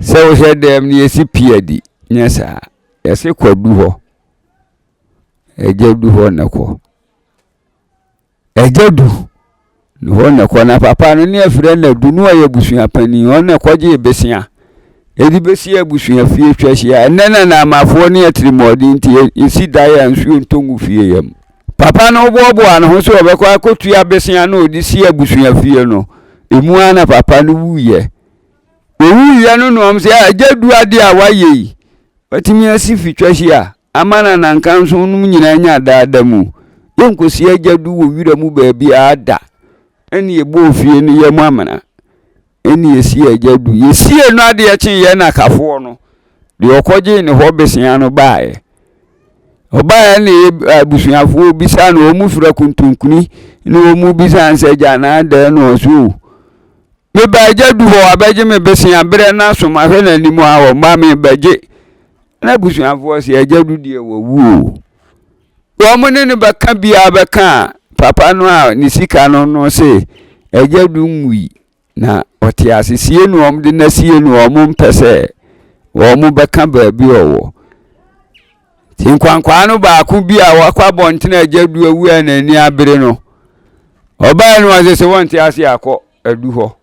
Sɛ wohyɛ dɛm no yɛsi pii adi nyɛ saa yɛse kɔ du hɔ agya du hɔ na kɔ Agya du, ne hɔ na ɛkɔ. Na papa no ne ɛfrɛ no adu no ɔyɛ abusua panin. Hɔ na ɛkɔgyee besia. Ɛde bɛsi abusua fie atwa ahyia. Ɛnnɛ na Naamafoɔ ne atirimuɔden nti yɛsi dan a nsuo ntɔ ngu fie yam. Papa no boaboaa ne ho sɛ ɔbɛkɔ akɔtua besia no a ɔde si abusua fie no. Ɛmu ara na papa no wuiɛ. Ɔwuiɛ no na wɔn sɛ, agya du adeɛ a woayɛ yi, watumi asi fi twa hyia a, Ama na nankanson nom nyinaa nya daa da mu. Yɛnkɔsi agya du wɔ wira mu baabiara da. Ɛnna yɛbɔɔ fie no yam amena. Ɛnna yɛsii agya du. Yɛsiee no adeɛ kyee yɛn nakafoɔ no deɛ ɔkɔgyee ne hɔ bosea no baeɛ. Ɔbaeɛ na yɛ abusuafoɔ bisaa no wɔn fira kontonkuni na wɔn bisaa no sɛ agya anaa dɛɛ na ɔso o. Meba agya du hɔ abɛgye me bosea berɛ no aso mahwɛ n'anim a ɔmma mebɛgye Na abusuafoɔ sɛ agya du deɛ wawu o. Wɔn ne no bɛka biara bɛka a papa no a ne sika no no se agya du nwui na ɔte ase sie no wɔn de na sie no wɔn mpɛ sɛ wɔn bɛka baabi ɔwɔ. Nti nkwankwaa no baako bi a wakɔ abɔntene agya du awu a n'ani abere no ɔbaa no ɔse sɛ wɔnte ase akɔ adu hɔ.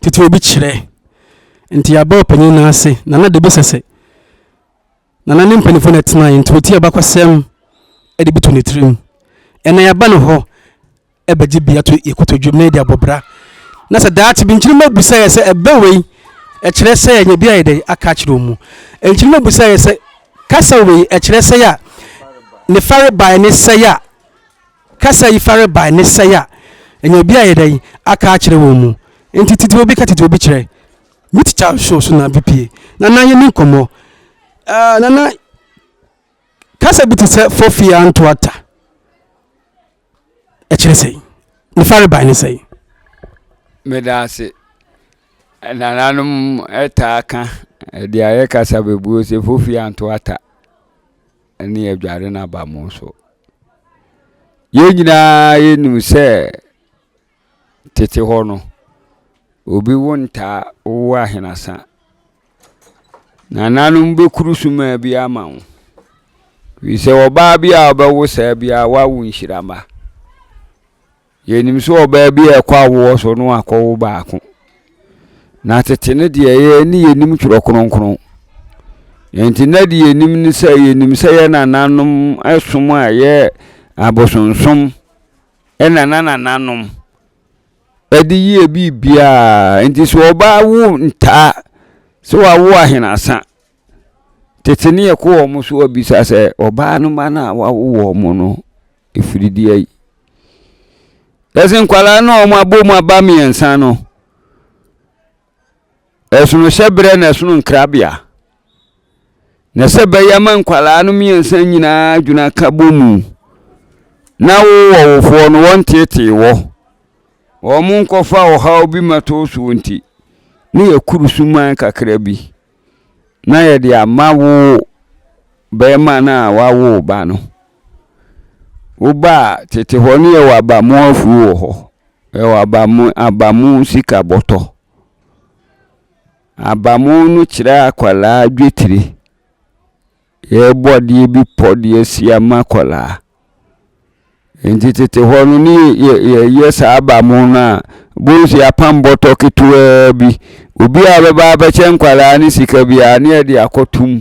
Tete obi kyerɛ nti yɛabɔ ɔpanyin no ase, Nana de bi sɛsɛ. Nana ne mpanyimfo na ɛtenae nti otie abakɔsɛm de bi to ne tirim. Ɛnnɛ yɛaba ne hɔ begye bi ato yɛn kotodwe mu na yɛde abɔ bra. Na sɛ daakye bi nkyirimma abisa yɛn sɛ, Ɛbɛ wei? Ɛkyerɛ sɛ yɛanya bi ayɛ dɛn? Aka akyerɛ wɔn mu. Nkyirimma bisa yɛn sɛ, Kasa wei? Ɛkyerɛ sɛ a ne fa rebae ne sɛ a kasa yi farebae ne sɛe a ɛnya obi a yɛda yi aka akyerɛ wɔn mu nti titiriw obi ka titiriw obi kyerɛ me tikya show so na bipie na na yɛni nkɔmmɔ uh, na na kasa bi te sɛ fofi antoata ɛkyerɛ sɛe ne farebae ne sɛe meda ase nananom ɛtaa ka ɛde ayɛ kasa bebuo sɛ fofi antoata ne adware no aba mo so. Yɛn nyinaa yɛnim sɛ tete hɔ no, obi wo ntaa wowo ahenasa. Nananom bɛkuru sumaa bi ama wo. Firi sɛ ɔbaa bi a ɔbɛwo saa biara wawo nhyira mma. Yɛnim sɛ ɔbaa bi a ɛkɔ awoɔ so no akɔwo baako. Na tete no deɛ yɛn ne yɛnim twerɛ kronkron. Enti na deɛ yɛnim ne sɛ yɛnim sɛ yɛn nananom som a ɛyɛ abosonsom ɛna na nananom ɛde yie biribiara. Enti sɛ ɔbaa wo ntaa sɛ wawo ahenasa. Tete ne yɛkɔ wɔn so abisa sɛ ɔbaa no mma no a wawo wɔn no ɛfiri deɛ ayi. Yɛsɛ nkwadaa no a wɔn abɔ mu aba mmiɛnsa no, ɛsono hyɛ berɛ na ɛsono nkrabea. Na sɛ bɛyɛ ma nkwadaa no mmiɛnsa nyinaa dwena ka bɔ mu na wowɔ wofoɔ no wɔntetee wɔ wɔn nkɔfa ɔhaw bi ma too soɔ nti ne yɛkuru suman kakra bi. na yɛde ama wo barima no a wawo wo ba no wo ba a tete hɔ no yɛwɔ abamu afuo wɔ hɔ yɛwɔ abamu abamu sika bɔtɔ abamu no kyerɛ akwadaa dwetire Yɛrebɔ adeɛ bi pɔ de asi ama akwadaa. Nti tete hɔ no ne yɛyɛ saa aba mo no a bohu sɛ yɛapam bɔtɔ ketewaa bi obi a bɛba bɛkyɛ nkwadaa ne sika biara ne yɛde akɔto mu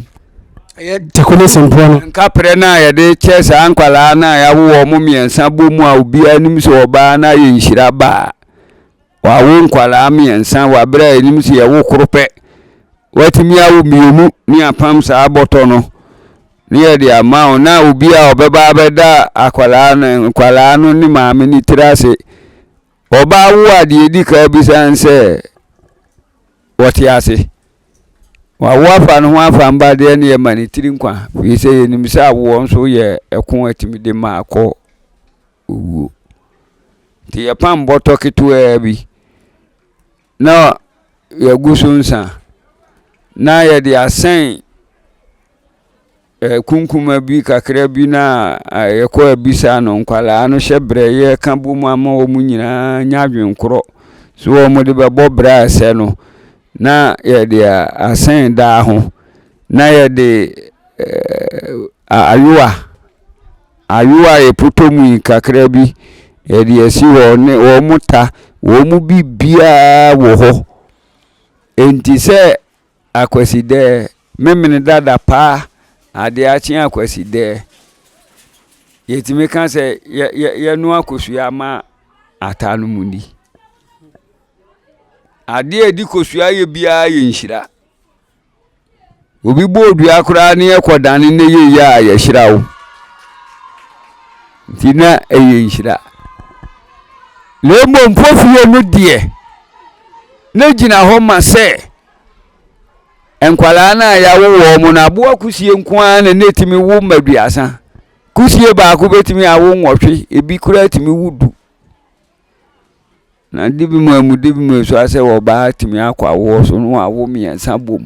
ɛyɛ tako ne sempoɔ no nkaprɛ no a yɛde kyɛ saa nkwadaa no a yɛawo wɔn mmiɛnsa bɔ mu a obiara nim sɛ ɔbaa no ayɛ nhyira baa Wɔawo nkwadaa mmiɛnsa wɔ abere a ɛnim sɛ yɛwo koro pɛ. Wɔatumi awo mmienu ne apam saa bɔtɔ no ne yɛde ama wo na obi a ɔbɛba abɛda akwadaa no nkwadaa no ne maame ne tiri ase. Ɔbaa wo a deɛ ɛdi kan bisa ne sɛ wɔte ase. Wɔawo afa no ho afa mba deɛ ne yɛma ne tiri nkwa firi sɛ yɛnim sɛ awoɔ nso yɛ ɛko atumi de ma akɔ owuo. Nti yɛpam bɔtɔ ketewaa bi na yɛagu so nsa na yɛde asɛn eh, kunkuma bi kakra bi na eh, yɛkɔ abisa no nkwalaa no hyɛ berɛ yɛka bɔ mu ama wɔn nyinaa nya adwenkorɔ so wɔn de bɛbɔ berɛ a ɛsɛ no na yɛde asɛn daa ho na yɛde eh, ayowa Ayowa a yɛpotɔ mu yi kakra bi yɛde asi hɔ ne wɔn ta, wɔn mu biribiara wɔ hɔ. Enti sɛ Akwasidɛɛ, Memene dada paa, adeɛ akye Akwasidɛɛ, yɛtumi ka sɛ yɛ, yɛ, yɛnoa kosua ma ata no mu ni. Adeɛ a yɛde kosua yɛ biara yɛ nhyira. Obi bɔ dua koraa ne ɛkɔdane ne yɛyɛ a yɛhyira wo nti na ɛyɛ nhyira na mmom mfofie no deɛ na gyina hɔ ma sɛ nkwadaa no a yɛawo wɔn mo no aboa kusie nko ara na na ɛtumi wo ma duasa kusie baako bɛtumi awo nwɔtwe ebi koraa tumi wo du Na ade bi mu a emu de bi mu esu asɛ wɔ ɔbaa atumi akɔ awoɔ so no awo mmiɛnsa bom.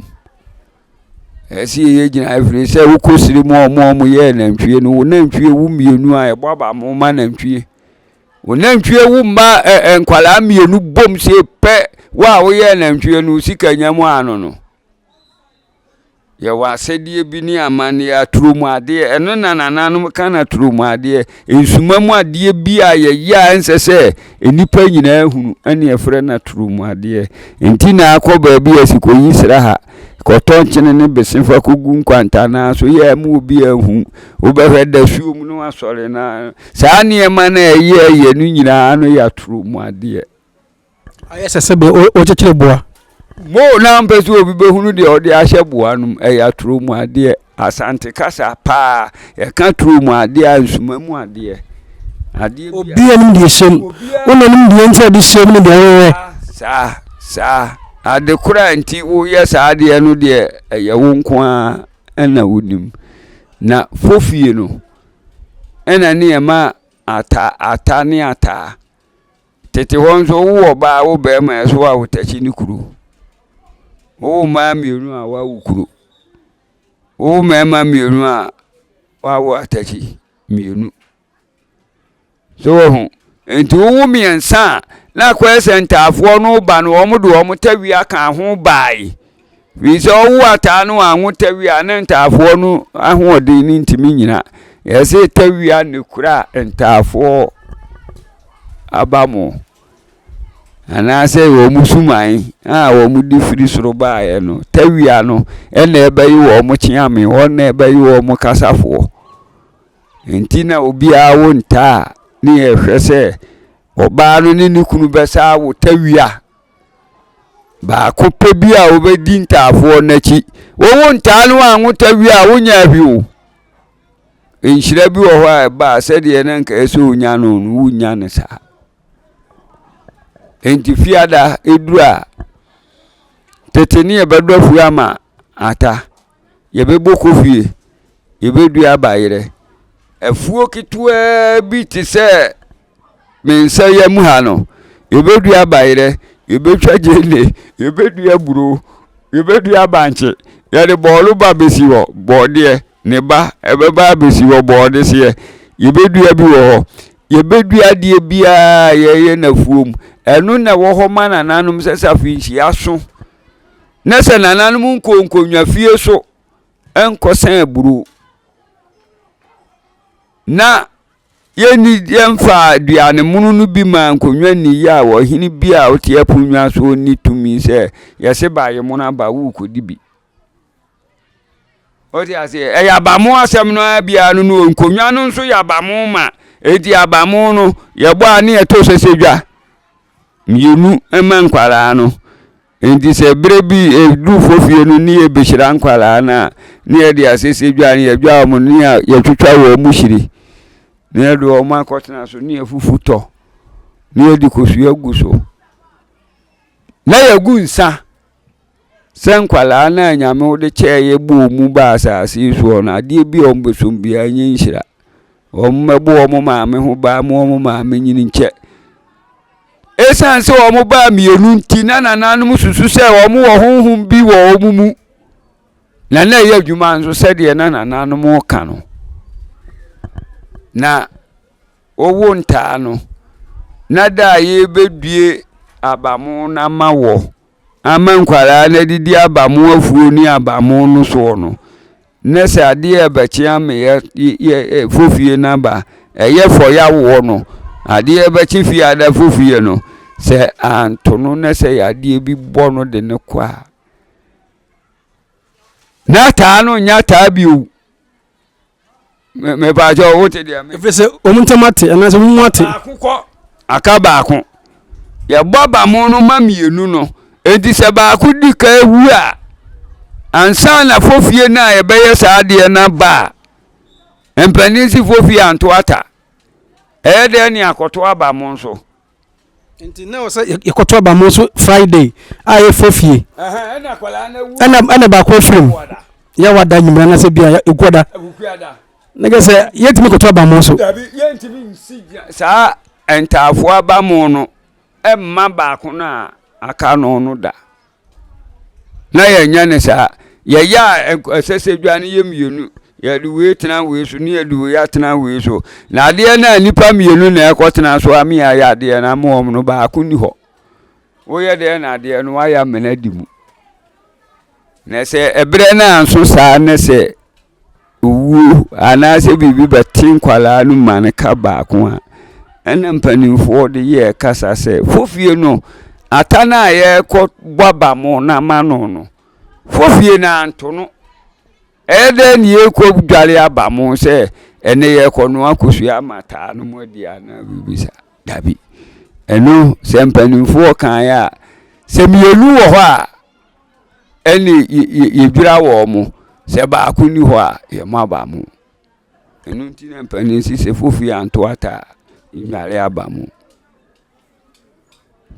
Ɛsi yɛyɛ gyina ɛfiri sɛ wokɔ siri mu a wɔn a wɔyɛ nantwie no wɔn nantwie wu mmienu a ɛbɔ aba mo ma nantwie. Wɔn nantwie wu mma ɛ ɛ nkwadaa mmienu bom sie pɛ wo a woyɛ nantwie no sika nya mu ano no. Yɛwɔ asɛdeɛ bi ne amanneɛ aturo mu adeɛ ɛno na nananom ka no aturo mu adeɛ nsuma mu adeɛ bi a yɛyɛ a ɛnsɛ sɛ nnipa nyinaa hunu ɛne ɛfrɛ no aturo mu adeɛ nti na akɔ baabi a sikɔyi sra ha kɔtɔ nkyene ne bese fa kɔgu nkwantanaa so yɛ ma obi ahu wobɛhwɛ da suo mu no asɔre na saa nneɛma no a ɛyɛ yɛ no nyinaa no yɛ aturo mu adeɛ Ayɛ sɛ sɛdeɛ worekyekyere boa. Moo na mpɛ sɛ obi bɛhunu deɛ ɔde ahyɛ boa no mu. Ɛyɛ atorɔ mu adeɛ. Asante kasa paa, yɛka torɔ mu adeɛ a, nsuma mu adeɛ. Adeɛ bi a. Obi anim deɛ ɛhyɛ mu. Obiara. Wo na nim deɛ nti a ɛde hyɛ mu ne deɛ woyɛ. Saa, saa. Ade korɔ a nti woyɛ saa adeɛ no deɛ, ɛyɛ wo nko ara na wonim. Na fofie no, ɛna ne yɛma ata, ata ne ataa. Tete hɔ nso wowɔ ɔbaa wo bɛrima ɛso a wotakyi ne kuro wowo mmaa mmienu a woawo kuro wowo mmarima mmienu a woawo atakyi mmienu so wɔ ho nti wowo mmiɛnsa a na akɔyɛ sɛ ntaafoɔ no ba no wɔn de wɔn tawia ka ho bae Firi sɛ ɔwo ataa no anwo tawia ne ntaafoɔ no ahoɔden no ntumi nyina. Yɛse tawia ne kura ntaafoɔ aba mo. Anaasɛ wɔn suman a wɔn de firi soro baeɛ no, tawia no ɛna ɛbɛyi wɔn kyeame, wɔn na ɛbɛyi wɔn kasafoɔ. Nti na obiara wo ntaa ne yɛhwɛ sɛ ɔbaa no ne ne kunu bɛsa awo tawia. Baako pɛ bi a wobɛdi ntaafoɔ no akyi. Wowo ntaa no anwo ta wie a, wonya ahwi o. Nhyira bi wɔ hɔ a ɛba a sɛdeɛ na nka ɛsɛ onya no no, wonnya no saa. Enti fiada ɛduru a, tete ne yɛbɛdɔ afuo ama ata. Yɛbɛbɔ kɔhwie, yɛbɛdua aba yerɛ. Afuo ketewaa bi te sɛ me nsa yam ha no, yɛbɛdua aba yerɛ, yɛbɛtwa gyeene, yɛbɛdua buro, yɛbɛdua bankye. Yɛde bɔɔlo ba bɛsi hɔ, bɔɔdeɛ, ne ba ɛbɛba abɛsi hɔ, bɔɔdeseɛ. Yɛbɛdua bi wɔ hɔ. Yɛbɛdua adeɛ biara yɛyɛ no afuom. Ɛno na ɛwɔ hɔ ma nananom sɛ safi nhyia so. Na sɛ nananom nkɔɔ nkonnwafie so nkɔsɛn aburow. Na yɛnni yɛmfa aduane mono no bi maa nkonnwa nni yɛ a ɔhene bi a ɔte aponnwa so ɔnni tumi sɛ yɛse ba yɛ mono aba worekɔdi bi. Ɔte aseɛ ɛyɛ abamo asɛm no ara biara no no nkonnwa no nso yɛ abamo ma eti abamo no yɛbɔ a ne yɛto sɛsɛ dwa mmienu ma nkwaraa no. Enti sɛ bere bi yedu fofie no ne yebehyira nkwadaa no a, na yɛde asese dwa no, yɛdwa wɔn no, na yɛatwitwa wɔn mu hyire, na yɛde wɔn akɔtena so, na yɛafufu tɔ, na yɛde kosua agu so, na yɛagu nsa sɛ nkwadaa no a Nyame wode kyɛɛ yɛ bɔɔ mu baa asase yi soɔ no, adeɛ bi a wɔbɛsom biara nyɛ nhyira. Wɔmmɛbɔ wɔn maame ho ban mma wɔn maame nyini nkyɛ. Esiane sɛ wɔn baa mmienu nti, na nananom susu sɛ wɔn wɔ honhom bi wɔ wɔn mu, na na ɛyɛ adwuma nso sɛdeɛ na nananom ka no. Na wɔwo ntaa no, na da a yɛbɛdue abamo no ama wɔ ama nkwadaa no adidi abamo afuo ne abamo no soɔ no, Na sɛ adeɛ a ɛbɛkyea me yɛ yɛ fo fie no aba ɛyɛ fɔ yɛ awoɔ no adeɛ bɛkye fie ada fo fie no sɛ anto no na sɛ yadeɛ bi bɔ no de no kɔ a na taa no nyɛ taa bio mepaakyɛ wo te deɛ ɛfiri sɛ wɔn ntam ate anaasɛ wɔn mu ate baako kɔ aka baako yɛbɔ abamo no ma mmienu no enti sɛ baako di ka ewu a ansa na fofie no a yɛbɛyɛ saa adeɛ no aba a mpanin si fofie anto ata ɛyɛ dɛn ne akɔto abamo nso Nti na ɔsɛ yɛkɔto aba mo nso Friday a yɛfɛ fie. Ɛna baako afiri mu yɛ wada nyimira na sɛ bia ekuada. Na kɛ sɛ yɛtumi kɔto aba mo nso. Saa ntaafoɔ aba mo no ɛmma baako no a aka no no da. na yɛnyɛ ne saa yɛyɛ a ɛsɛ sɛ dwa no yɛ mmienu yɛde wei tena wei so ne yɛde wei atena wei so na adeɛ no a nnipa mmienu na ɛkɔ tena so ame ayɛ adeɛ no ama wɔn no baako ni hɔ woyɛ deɛ na adeɛ no wayɛ amena di mu na sɛ ɛberɛ no anso saa ne sɛ owuo anaasɛ biribi bɛte nkwadaa no ma no ka baako a ɛna mpanimfoɔ de yɛ kasa sɛ fofie no ata no a yɛrekɔ bɔ aba mo no ama no no fofie no anto no ɛyɛ dɛ ne yɛrekɔ dware aba mo sɛ ɛnɛ yɛrekɔ no akɔsua ama taa no mu adi anaa biribi saa dabi ɛno sɛ mpanimfoɔ kan yɛ a sɛ mmienu wɔ hɔ a ɛne yɛdwira wɔn mo sɛ baako ni hɔ a yɛmɔ aba mo ɛno nti na mpanin si sɛ fofie anto ata a nnware aba mo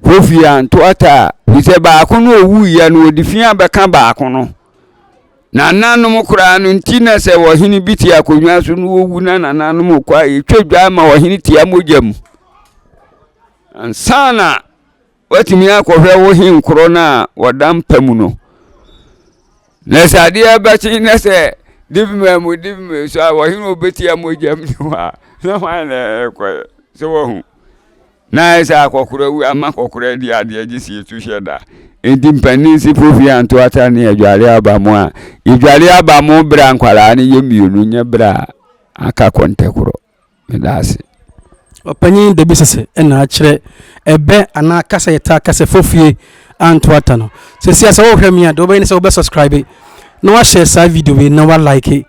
fofie anto ata a fi sɛ baako no owu yɛ no ɔde fi abɛka baako no na nananom koraa no nti na sɛ ɔhene bi te akonnwa so no owu na nananom kɔ a yɛtwa dwa ma ɔhene tia mogya mu ansa na Woatumi akɔhwɛ wo he nkorɔ no a wɔda mpa mu no na sɛ adeɛ bɛkye na sɛ divima mu divima so a wɔhe na wɔbɛtia mogya mu hɔ a na hwan na ɛkɔ sɛ wahu na sɛ akɔkorɔ wu ama kɔkorɔ adi adeɛ gye si tu hyɛ da nti mpanin si profi anto ata ne adware aba mu a yɛdware aba mu berɛ a nkwaraa no yɛ mmienu nyɛ berɛ a aka kɔntɛ korɔ Meda ase. Ɔpanyin Dabi sese na akyerɛ ɛbɛ anaa kasa yɛtaa ka sɛ fofie antoata no. Seesei a sɛ worehwɛ me a, deɛ wobɛyɛ ne sɛ wobɛsɔskraibe na woahyɛ saa video wei na woalaeke.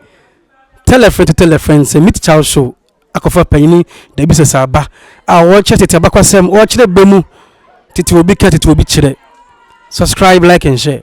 Tell a friend to tell a friend sɛ Meet Charles Show akɔfa Panyini Dabi Sese aba a ɔrekyerɛ tete abakwasɛm, ɔrekyerɛ bɛ mu, tete obi ka, tete obi kyerɛ. Subscribe, like and share.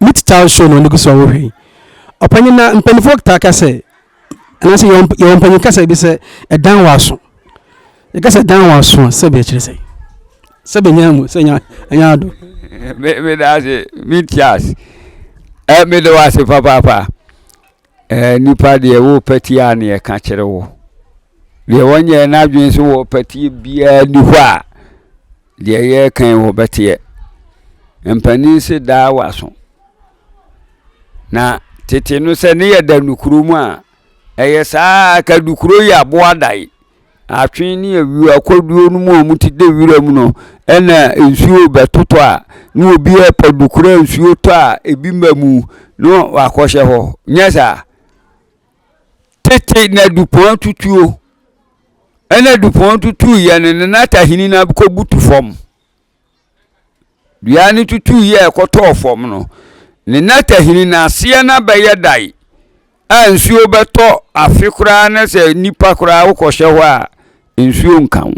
Meet Town Show na ɔno gu so a wohwɛ yi. Ɔpanyin na mpanyinfoɔ taa ka sɛ anaasɛ yɛwɔ mp- yɛwɔ mpanyin kasa bi sɛ ɛdan wɔ aso. Yɛka sɛ ɛdan wɔ aso a sɛbi ɛkyerɛ sɛ sɛbi nya mu sɛ nya nya ado. me me da ase me ti ase ɛ me da ase papaapa Ɛɛ, nipa deɛ wopɛ tie a na ɛka kyerɛ wo. Deɛ wɔnyɛ n'adwene so wɔ pɛtie biara ni hɔ a, deɛ yɛrekan wɔ bɛteɛ. Mpanin se daa w'aso. Na tete no sɛ ne yɛ da nukuro mu a, ɛyɛ saa ka dukuro yi aboa dae. Atwe ne awuo akɔduo no mu a wɔte dɛ wira mu no, ɛna nsuo bɛtotɔ a, na obi ɛpɔ do kura nsuo tɔ a ebi mma mu na wakɔhyɛ hɔ. Nyɛ saa. Tete na dupɔn atutuo. Ɛna dupɔn tutuiɛ no, na n'atahini no abɛkɔbutu fam. Dua no tutuiɛ a ɛkɔtɔɔ fam no, ne nnɛtɛ hini no aseɛ no abɛyɛ dan a nsuo bɛtɔ afe koraa na sɛ nipa koraa wokɔhyɛ hɔ a nsuo nka wo.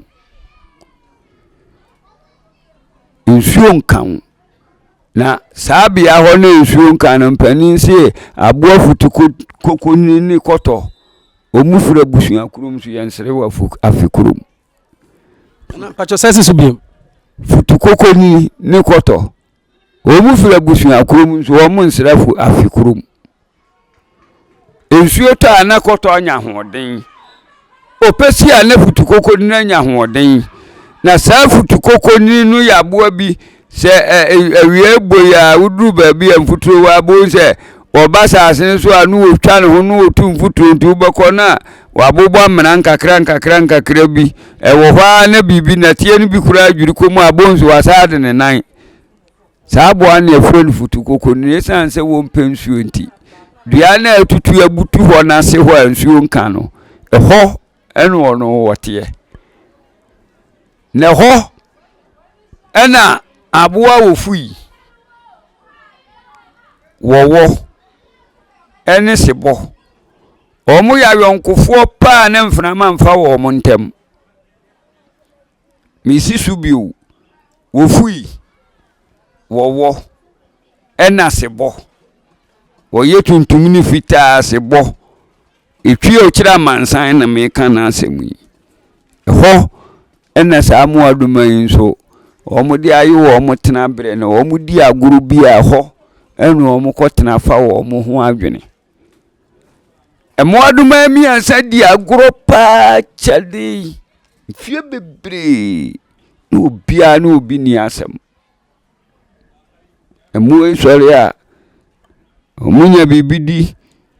Nsuo nka wo. Na saa bea hɔ no nsuo nka no mpanin se aboa futu koko ne kɔtɔ. Wɔn fura abusua kurom nso yɛnsere wɔ afe kurom. Futukokoni ne kɔtɔ, wɔn firi abusuakuo mu nso wɔn nsra fu afe korɔ mu. Nsuo tɔ a na kɔtɔ anya ahoɔden, ɔpɛ si a na futukokoni no anya ahoɔden. Na saa futukokoni no yɛ aboa bi. Sɛ awia bɔ yi a woduru baabi a mfuturo wɔ a, bohu sɛ wɔba asase no so a ne wɔtwa ne ho ne wɔtu mfuturo nti wobɛkɔ no a wɔabobɔ amena nkakra nkakra nkakra bi. Ɛwɔ hɔ ara na biribi nɛteɛ no bi koraa dwiri kɔ mu a bohu sɛ wɔasaa de ne nan. Saa aboa no yɛfrɛ no futukoko no ɛsiane sɛ wɔmpɛ nsuo nti dua no a ɛtutu abutu hɔ no ase hɔ a nsuo nka no ɛhɔ ɛne wɔn no wɔteɛ. Na ɛhɔ ɛna aboa a wɔfui wɔwɔ ɛne sebɔ. Wɔyɛ ayɔnkofoɔ paa ne mfenama mfa wɔn ntam. Mesi so bio. Wɔfui. Wɔwɔ. Ɛna sebɔ. Wɔyɛ tuntum ne fitaa sebɔ. Ɛtwi a ɔkyerɛ amansan na meka n'asɛm yi. Ɛhɔ ɛna saa mmoadoma yi nso wɔde ayɛ wɔn tenaberɛ na wɔdi agorɔ bi a ɛhɔ ɛna wɔkɔtena fa wɔn ho adwene. Mmoadoma mmiɛnsa di agorɔ pa ara akyɛde yi mfeɛ bebree na obiara ne obi nni asɛm. Mmoa yi sɔre a, wɔnya biribi di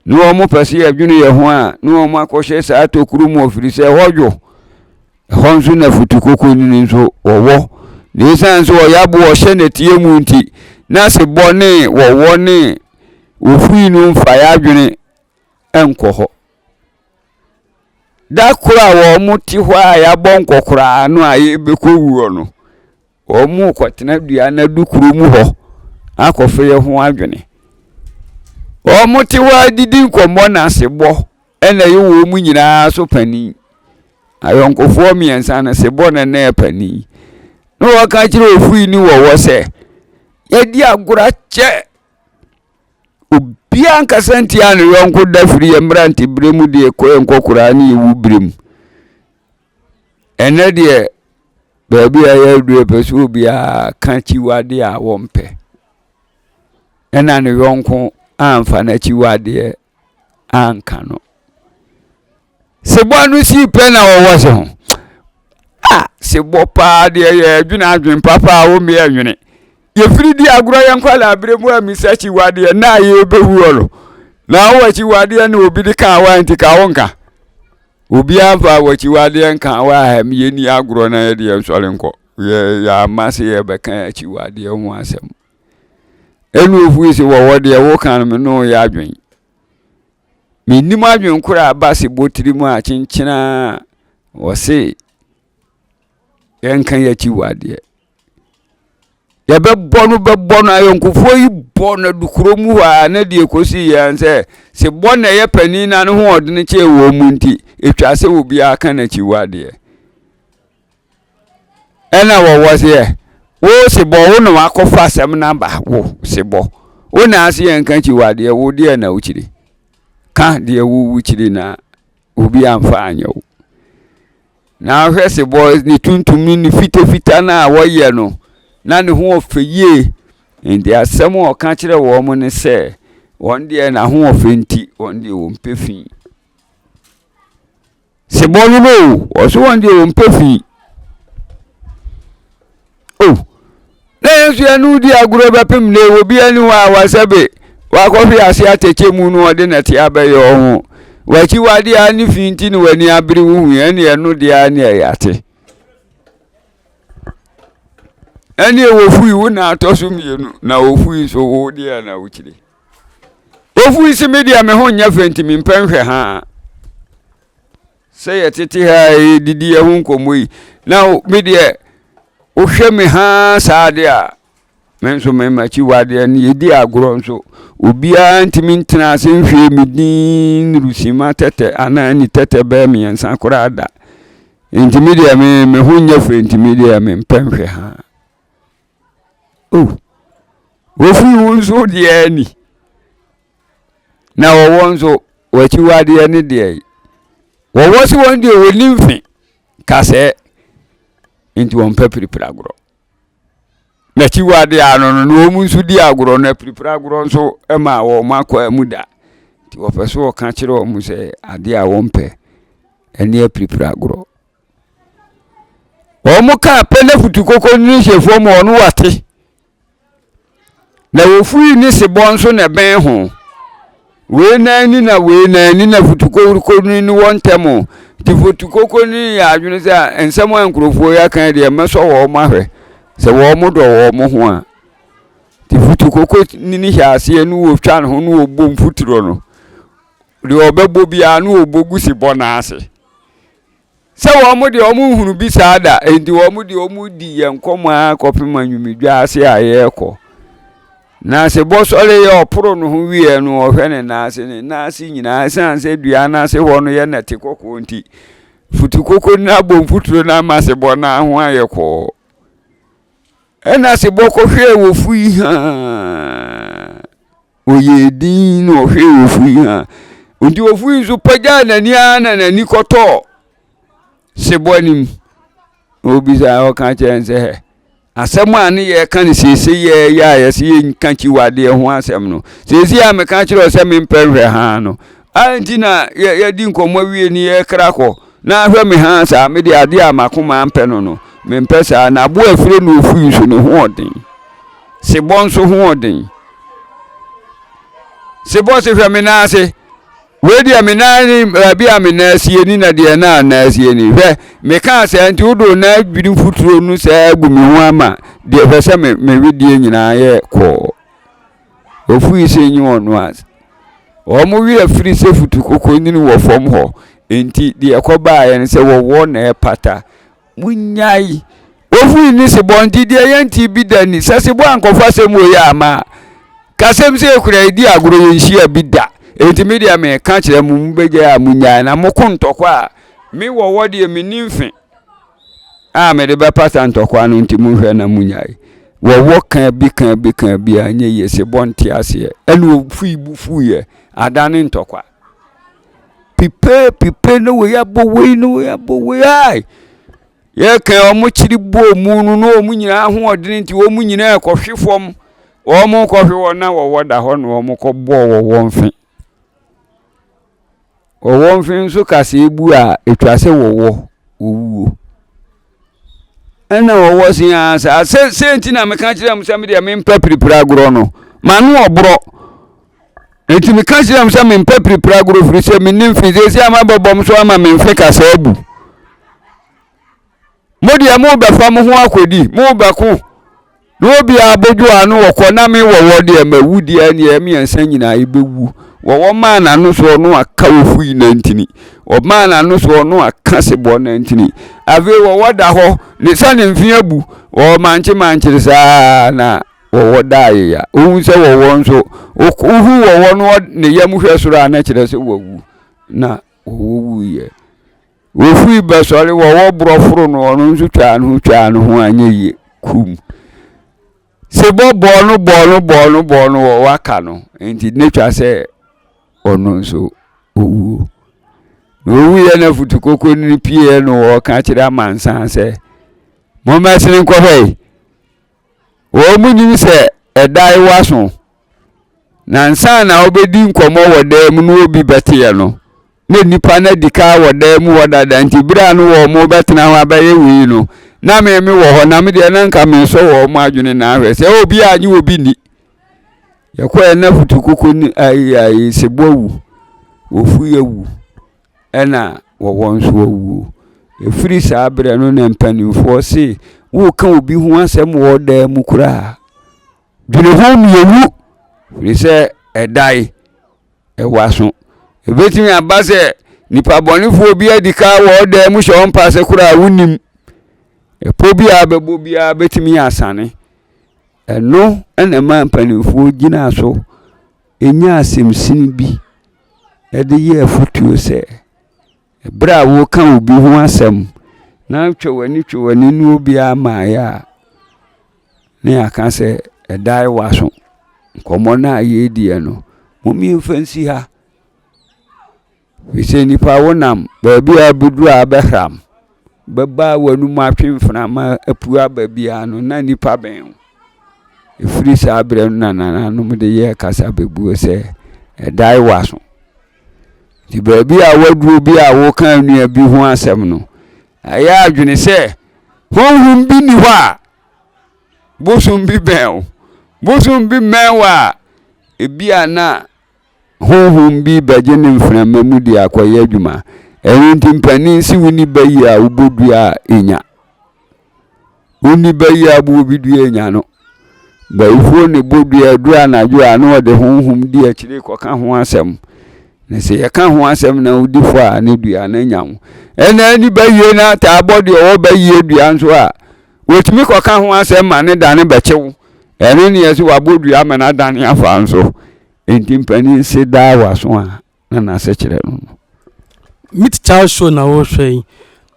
na wɔpɛ sɛ yɛdwene yɛn ho a, na wɔakɔhyɛ saa tokuro mu ɛfiri sɛ ɛhɔ dwo. Ɛhɔ nso na futukokonini nso wɔwɔ. Na ɛsiane sɛ wɔyɛ aboɔ hyɛ nnɛteɛ mu nti, na sebɔ ne wɔwɔ ne Wohui no mfa yɛn adwene nkɔ hɔ. Da koro a wɔte hɔ a yɛabɔ nkɔkoraa no a yɛbɛkɔ wuo no, wɔkɔtena dua no adukuro mu hɔ akɔfa yɛn ho adwene. Wɔte hɔ a didi nkɔmmɔ na asebɔ na ɛyɛ wɔn mu nyinaa so panin. Ayɔnkofoɔ mmiɛnsa no sebɔ na na yɛ panin. Na wɔka kyerɛ ofui ne wɔwɔ sɛ, yɛdi agorɔ akyɛ obiara nkasa ntia ne yɔnko da firi yɛ mmerante berɛ mu deɛ kɔ yɛ nkɔkoraa ne yɛwu berɛ mu ɛnɛ deɛ baabi a yɛadu yɛpɛ sɛ obiara ka kyiwadeɛ a wɔmpɛ ɛna ne yɔnko amfa no akyiwadeɛ anka no. Sebɔ no sii pɛ na wɔwɔ se ho. Ah, sebɔ paa deɛ yɛ adwene adwene papa a wɔmmea adwene. Yɛfiri di agorɔ yɛn nkwadaa berɛ mu a misa kyiwadeɛ na a yɛbɛwu ɔlɔ. Na awɔ akyiwadeɛ na obi de ka awa nti ka wo nka. Obiara mfa awɔ akyiwadeɛ nka awa a yɛni agorɔ na yɛde yɛn sɔre nkɔ. Yɛama se yɛbɛka akyiwadeɛ ho asɛm. ɛna ofiri se wɔwɔ deɛ woka no me ne woyɛ adwene mennim adwene korɔ a ɛba se botiri mu a kyenkyena a wɔse yɛnka yɛakyi wɔ adeɛ yɛbɛbɔ no bɛbɔ no ayɔnkofoɔ yi bɔ no adukuro mu hɔ a na deɛ kɔsi yɛn sɛ se bɔ na ɛyɛ panin na ne ho ɔdene kyɛɛ wɔn mu nti ɛtwa sɛ obiara ka n'akyi wɔ adeɛ Ɛna wɔwɔ seɛ wo sebɔ wo na wakɔfa asɛm no aba wo sebɔ wo na ase yɛ nka kyi wadeɛ wo deɛ na wokyiri ka deɛ wowu kyiri na obi amfa anyɛ wo na hwɛ sebɔ ne tuntum ne ne fitafita no a wɔyɛ no na ne ho ɔfɛ yie nti asɛm a ɔka kyerɛ wɔn mo ne sɛ wɔn deɛ n'ahoɔfɛ nti wɔn deɛ wɔmpɛ fii Sebɔ no no o ɔse wɔn deɛ wɔmpɛ fi o na yɛn nso yɛne wodi agorɔ bɛpem ne obiara ni hɔ a wasɛbe wakɔhwe ase atɛkyɛ mu no ɔde nɛte abɛyɛ ɔho wakyiwade a ne fi nti ne w'ani abere wo hu ɛne ɛno deɛ a ne ɛyɛ ate ɛne ɛwɔ fui wo na atɔ so mmienu na ofui nso wo deɛ na wokyire Ofiri se me deɛ me ho nyɛ fɛ nti mempɛ nhwɛ ha a. Sɛ yɛtete ha a yɛdidi yɛ ho nkɔmmɔ yi na me deɛ wohwɛ me ha saa adeɛ a me nso memakyi wadeɛ no yɛdi agorɔ nso obiara ntumi ntena ase nhwɛ me din rusima tɛtɛ anaa ni tɛtɛ bɛɛ mmiɛnsa koraa da nti me deɛ me me ho nyɛ fɛ nti me deɛ mempɛ nhwɛ ha Oh, wɔfiri wo nso deɛ ni. Na wɔwɔ nso w'akyiwadeɛ ne deɛ yi. Wɔwɔ se wɔn deɛ wɔni mfe kasɛɛ nti wɔmpɛ piripiri agorɔ. Na akyiwadeɛ ano no na wɔn nso di agorɔ na piripiri agorɔ nso ma wɔn akɔ mu da. Nti wɔpɛ so wɔka kyerɛ wɔn sɛ adeɛ a wɔmpɛ ɛne apiripiri agorɔ. Wɔkaa pɛ na futukoko ne hyɛ fam a ɔno wate. Na ofui ne sebɔ nso na ɛbɛn ho. Wei nan ni na wei nan ni na futukoko no ne wɔn ntam. Nti futukoko no yɛ adwene sɛ nsɛm a nkurɔfoɔ yi aka yi deɛ mɛsɔ wɔn ahwɛ. Sɛ wɔdɔ wɔn ho a. Nti futukoko ne no hyɛ aseɛ ne ɔretwa ne ho ne ɔrebɔ mfuturo no. Deɛ ɔbɛbɔ biara ne ɔbɔ gu sebɔ no ase. Sɛ wɔn deɛ wɔn nhunu bi saa da, enti wɔn deɛ wɔn di yɛn nkɔmɔ ara kɔpem anwumedwa ase a yɛrekɔ. Na sɛ bɔsɔre yɛ ɔporo no ho wieɛ no, ɔhwɛ ne nan ase, ne nan ase nyinaa, ɛsiane sɛ dua no ase hɔ no yɛ nɛte kɔkɔɔ nti, futukoko no abɔ mfuturo no ama sebɔ no ho ayɛ kɔɔ. Ɛna sebɔ kɔhwɛɛ wɔ fui haa. Ɔyɛɛ dinn na ɔhwɛɛ ofu yi a, enti ofu yi nso pagyaa n'ani ara na n'ani kɔtɔɔ sebɔ anim. Na obisaa ɔka kyerɛ sɛ, asɛm a ne yɛka no seesei yɛ yɛ a yɛsɛ yɛnka kyiwadeɛ ho asɛm no, seesei a meka kyerɛ wo sɛ mempɛ nhwɛ haa no, a nti na yɛadi nkɔmmɔ awie ne yɛkra kɔ na ahwɛ me haa saa? Mede adeɛ a m'akoma mpɛ no no, mempɛ saa. Na aboa afire ne ofu yi nso ne hoɔden, sebɔ nso hoɔden. se bɔse hwɛ me nan ase wei deɛ me nan ni baabi a me nan asie ni na deɛ na nan asie ni hwɛ mekaa sɛ nti wode wo nan adwiri mfuturo no saa agu me ho ama deɛ hwɛ sɛ me me wedeɛ nyinaa yɛ kɔɔ ofiri se nye wɔn no ase wɔn werɛ firi sɛ futu koko nyini wɔ fam hɔ nti deɛ ɛkɔbaeɛ no sɛ wɔwɔ na ɛpata Munnyae! Ofui ne sebɔ nti deɛ yɛntee bi da ni. Sɛ sebɔ ankɔfɔ asɛm wɔ yi amma a, kasɛm sei koraa yɛdi agorɔ yɛnhyia bi da. Enti me deɛ meka kyerɛ mo, mobɛgyae a munnyae na moko ntɔkwa a me wɔ wɔ deɛ menni mfe a mede bɛpata ntɔkwa no nti monhwɛ na munnyae. Wɔwɔ ka bi ka bi ka bi a ɛnyɛ yie, sebɔ nte aseɛ ɛna ofui bo fuiɛ adane ntɔkwa. pipe pipe na wei abɔ wei na wei abɔ wei ai yɛkɛn wɔn kyiri bɔɔ mu no na wɔn nyinaa ahoɔdene nti wɔn nyinaa kɔhwe fam wɔn kɔhwe wɔn a wɔwɔ da hɔ na wɔn kɔ bɔɔ wɔ wɔn fe wɔ wɔn fe nso kaseɛ bu a etwa sɛ wɔwɔ wɔwuo. ɛna ɔwɔ se aa saa sɛ sɛ nti na meka kyerɛ m sɛ medeɛ mempɛ piripiri agorɔ no mano ɔborɔ nti meka kyerɛ m sɛ mempɛ piripiri agorɔ firi sɛ menim fi sɛ sɛ ama bɛbɔm so ama memfe kasa abu modeɛ mobɛfa mo ho akɔdi mobɛko Na obiara bodwo ano wɔ kɔ na me wɔ wɔ deɛ ma wu deɛ neɛ mmiɛnsa nyinaa ebe wu wɔ wɔ maa na no soɔ no aka wɔ fui na ntini wɔ maa na no soɔ no aka se bɔ na ntini afei wɔ wɔ da hɔ ne sa ne mfin abu wɔ wɔ mankye mankyere saa na wɔ wɔ da aye ya ohun sɛ wɔ wɔ nso ohu wɔ wɔ no ne yam hwɛ soro a na kyerɛ sɛ wɔ wu na wɔ wɔ wu yɛ. Wɔfiri bɛsɔre wɔwɔ borɔ foro no ɔno nso twaa no ho twaa no ho anyɛ yie kum sɛ bɔ bɔɔ no bɔɔ no bɔɔ no bɔɔ no wɔ waka no nti ne twa sɛ ɔno nso ɔwuo na ɔwuiɛ na futukoko no pieɛ no wɔka kyerɛ amansan sɛ mommɛsene nkɔhwɛ wɔnnim sɛ ɛdan wo aso, na ansa na wobɛdi nkɔmmɔ wɔ dan mu na obi bɛteɛ no, na nnipa no adi kan wɔ dan mu hɔ dada, nti berɛ a no wɔn mo bɛtena ho abɛyɛ wei no, na me me wɔ hɔ, na me deɛ na nka mesɔ wɔn mo adwene na ahwɛ sɛ oh, obi a nye obi nni. Yɛkɔɛ na futukoko ne ayi ayi sebo awu, ofu awu. ɛna wɔwɔ nso wawuo. Ɛfiri saa berɛ no na mpanimfoɔ se woreka obi ho asɛm wɔ ɔdan mu koraa dwene ho mmienu firi sɛ ɛdae ɛwɔ aso. Ɛbɛtumi aba sɛ nipa bɔnefoɔ bi adi ka wɔ ɔdan mu hyɛ ɔmpa ase koraa wonim. Ɛpɔ bi a bɛbɔ biara bɛtumi asane. Ɛno na ɛmaa mpanimfoɔ gyinaa so nyaa asɛmsin bi de yɛɛ afotuo sɛ, berɛ a woreka obi ho asɛm na twɛ w'ani twɛ w'ani ne obiara mmaeɛ a, na yɛaka sɛ ɛdae w'aso. Nkɔmmɔ no a yɛrediɛ no, mommeɛmfa nsi ha. Efisɛ nnipa wonam baabi a abɛduru a abɛhram, bɛba a w'anom atwe mframa apue aba biara no, na nnipa bɛn wo. Ɛfiri saa berɛ no na nananom de yɛɛ kasa bɛbuo sɛ, Ɛdae w'aso. Nti baabi a woaduro bi a woka nnua bi ho asɛm no, ɛyɛ adwene sɛ honhom bi ni hɔ a bosom bi bɛn wo. Bosom bi mmɛn wo a, ebi a na Honhom bi bɛgye ne mframa mu de akɔyɛ adwuma. Ɛno nti mpanin se wonni ba yi a wobɔ dua a enya. Wonni ba yi a boɔ bi dua enya no. Bayifoɔ ne bɔ dua aduru anadwo a na ɔde honhom di akyire kɔka ho asɛm. Na sɛ yɛka ho asɛm na wodi fɔ a ne dua no nya ho. Ɛna ani ba yie no ataa bɔ deɛ ɔwɔ ba yie dua nso a wɔtumi kɔka ho asɛm ma ne da no bɛkyew. Ɛno ne yɛse wabɔ dua ama n'adane afa nso. Enti mpanin se daa w'aso a na n'asekyerɛ no no. Meet Child Show na worehwɛ yi.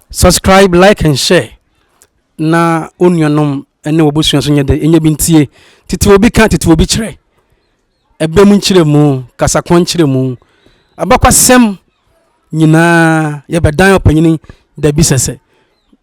Subscribe, like and share na wo nuanom ne w'abusua nso nyɛ dɛ nyɛ bi ntie. Tete obi ka, tete obi kyerɛ. Ɛbɛ mu nkyerɛmu, kasakoa nkyerɛmu, abakwasɛm nyinaa yɛbɛdan ɔpanyin da bi sɛsɛ.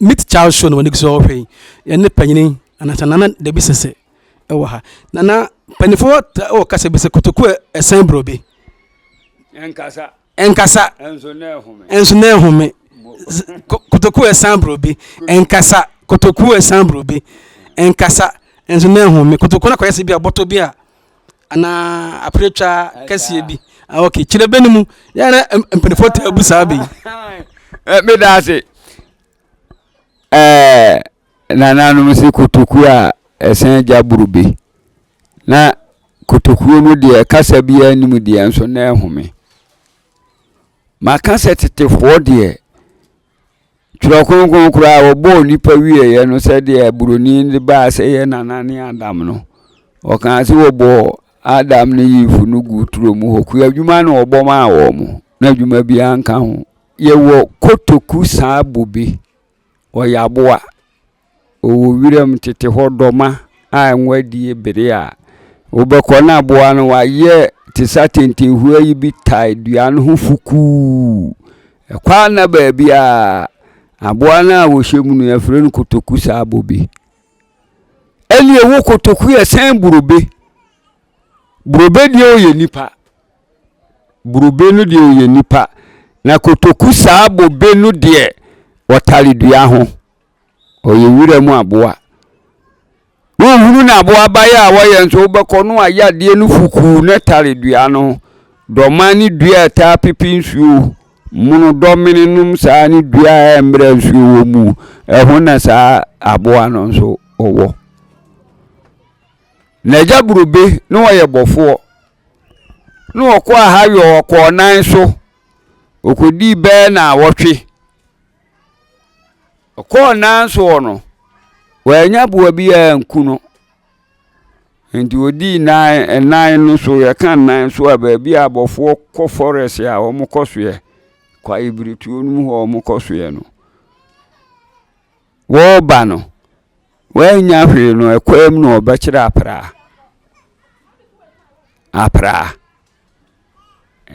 meet charles show na wɔn ani so ɔhwɛ yi ɛne panyin anasa nana dabi sese ɛwɔ ha nana mpanyinfoɔ ɛwɔ kasa bi sɛ kotoku ɛsɛn burobe. nkasa. Ɛnkasa, nso na ɛhome. Kotokuo ɛsan boro bi. Ɛnkasa, kotokuo ɛsan boro bi. Ɛnkasa, nso na ɛhome. Kotokuo no akɔyɛ sɛ bi a bɔtɔ bi a anaa apiratwa kɛseɛ bi ah, ok kyerɛ bɛ no mu yɛna mpanimfoɔ ta abu saa bɛyi eh, meda ase eh, Nananom se kotokuo a ɛsɛn gya boro bi. Na kotokuo no deɛ kasa biara nnim deɛ nso na ɛhome. Maka sɛ tetefoɔ deɛ twerɛ kronkron koraa wɔbɔɔ nipa wieeɛ no sɛdeɛ buroni de baa sɛ yɛ nana ne adam no ɔkaa sɛ wɔbɔɔ adam ne yifu no gu turo mu hɔ kua adwuma na wɔbɔ maa wɔn na adwuma biara nka ho yɛwɔ kotoku saa bobe Wɔyɛ aboa. Wɔwɔ wiram tete hɔ dɔma a ngo adie bere a wobɛkɔ na aboa no wayɛ te sɛ atɛntɛnhua yi bi tae dua no ho fukuu. Ɛkɔ a na baabi a aboa no a wɔhyɛ mu no yɛfrɛ no kotoku saa bɔ bi. Ɛne ɛwɔ kotoku yɛ sɛn burobe. Burobe deɛ ɔyɛ nipa. Bobe no deɛ ɔyɛ nipa. Na kotoku saa bobe no deɛ ɔtare dua ho. Ɔyɛ wira mu aboa. Wohunu no aboabaeɛ a wɔyɛ nso wobɛkɔ no ayɛ adeɛ no fukuu na tare dua no. Dɔma ne dua a ɛtaa pepe nsuo. Mono dɔmene nom saa ne dua a ɛmmerɛ nsuo wɔ mu. Ɛho na saa aboa no nso ɔwɔ. N'agya Bobe na ɔyɛ bɔfoɔ. na ɔkɔɔ ha yɛ ɔkɔɔ nan so ɔkɔdii bɛɛ na wɔtwe ɔkɔɔ nan soɔ no wɔanya boa bi a nku no nti ɔdii nan nan no so yɛka nan so a baabi a abɔfoɔ kɔ forest a wɔn kɔ soɛ kwaebiretuo no mu hɔ wɔn kɔ soɛ no. Wɔreba no, wɔannya hwee no, ɛkwan mu na wɔbɛkyerɛ apraa. Apraa.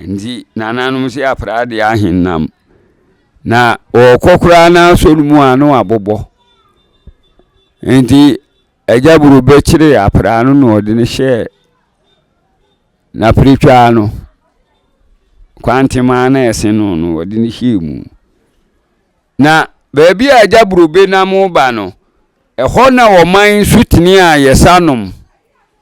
Nti nananom si apraa de ahenam. Na wɔkɔ koraa na asɔ no mu a na wɔabobɔ. Nti agya boro bɛkyerɛ apraa no na ɔde no hyɛɛ n'apiretwaa no. Kwantemaa na ɛse no no wɔde no hyɛɛ mu. Na baabi a agya burobe nam reba no, ɛhɔ na ɔman nsutene a yɛsa nom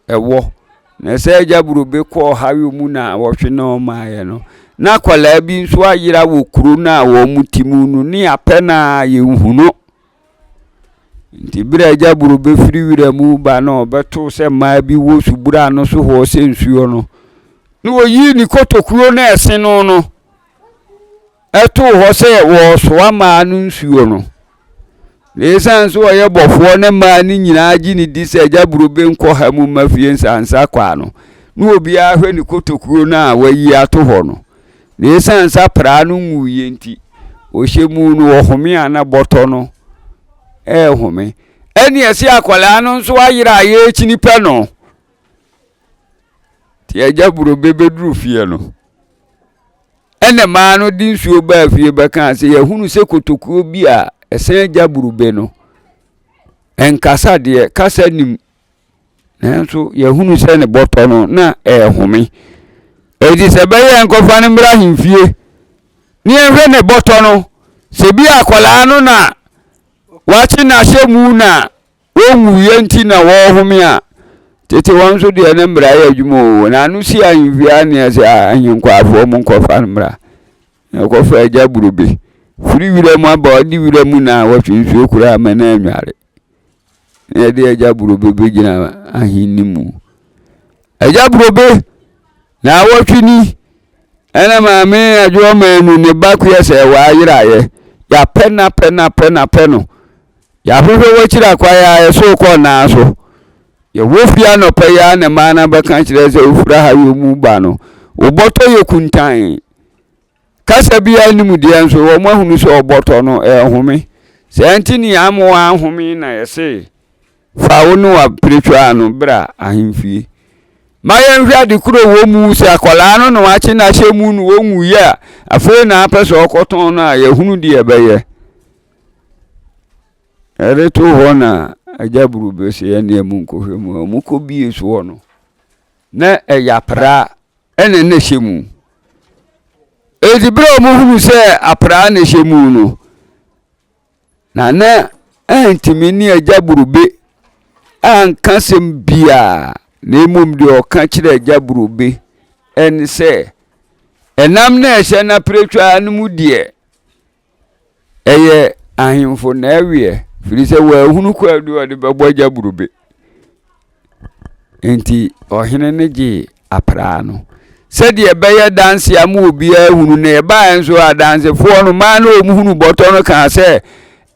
wɔ. Na sɛ agya burobe kɔ ɔhaw mu na wɔhwe no ɔmaeɛ no, na akwadaa bi nso ayera wɔ kuro no a wɔte mu no ne apɛ no a yɛnhu no. Nti berɛ a agya burobe firi wira mu ba na ɔbɛto sɛ mmaa bi wɔ subura no so hɔ sɛ nsuo no, na ɔyi ne kotokuo na ɛse no no, too hɔ sɛ wɔresoa mmaa no nsuo no na ɛsiane sɛ ɔyɛ bɔfoɔ ne mmaa no nyinaa gye ne di sɛ agya buro benkɔ ha mu ma fie nsansa kwaa no na obiara hwɛ ne kotokuo no a wayi ato hɔ no na ɛsiane sa praa no nwuiɛ nti ɔhyɛ mu no ɔhome a na bɔtɔ no ɛrehome ɛne ɛse akwadaa no nso ayera a yɛrekyini pɛ no nti agya burobe bɛduru fie no ɛna maa no de nsuo baa fie bɛkaa sɛ yɛhunu sɛ kotokuo bi a ɛsɛn agya burobe no ɛnkasa deɛ kasa nim nanso yɛhunu sɛ ne bɔtɔ no na ɛrehome ɛdi sɛ bɛyɛ nkɔfa no mmra ahemfie ne yɛnhwɛ ne bɔtɔ no sɛ bi akwadaa no na wakye n'ahyɛ mu na Wonwuiɛ nti na wɔrehome a, tete wɔn nso deɛ ne mmara yɛ adwuma o, wɔn ano si ahemfie anneɛ sɛ, Ahenkwafoɔ, monkɔfa no mmra. Na wɔkɔfa agya burobe firi wiram aba, ɔde wiram na wɔtwe nsuo koraa ma no anware. Na yɛde agya burobe bɛgyina ahenni mu. Agya burobe! Naawɔtwe ni, ɛna Maame Adwoɔmaa nu ne ba Kua sɛ w'ayerayɛ. Yɛapɛ no apɛ no apɛ no apɛ no. Yɛahwehwɛ w'akyiri akwan ara yɛso rekɔ nnan so. Yɛwɔ fie anɔpa yi ara na mmaa no abɛka kyerɛ sɛ wofiri ahayɔ mu reba no. Wobɔtɔ yɛ kuntann. Kasa biara nni mu deɛ nso wɔn ahunu sɛ ɔbɔtɔ no ɛrehome. Saa nti ne ama wɔahome na yɛse fa wo ne w'apiretwa no bra ahemfie. Ma yɛnhwɛ ade koro wɔ mu sɛ akwadaa no na wakye no ahyɛ mu no wɔnwuiɛ a afei na apɛ sɛ ɔkɔtɔn no a yɛhunu deɛ ɛbɛyɛ. Ɛde to hɔ na agya buru bɛsɛ yɛne ɛmu nkɔhwɛ mu a wɔkɔbie soɔ no. Na ɛyɛ apraa na na ɛhyɛ mu. Enti berɛ a wɔhunu sɛ apraa na ɛhyɛ mu no, Nana antumi ne agya Burube anka sɛm biara, na mmom deɛ ɔka kyerɛ agya Burube ɛne sɛ, ɛnam na ɛhyɛ no apiretwaa no mu deɛ, ɛyɛ ahemfo nɛweɛ firi sɛ wɔahunu kwaadu a ɔde bɛbɔ gya burobe nti ɔhene no gyee apraa no sɛdeɛ ɛbɛyɛ danse ama obiara hunu na ɛbaa nso adansefoɔ no maa na wɔn hunu bɔtɔ no kaa sɛ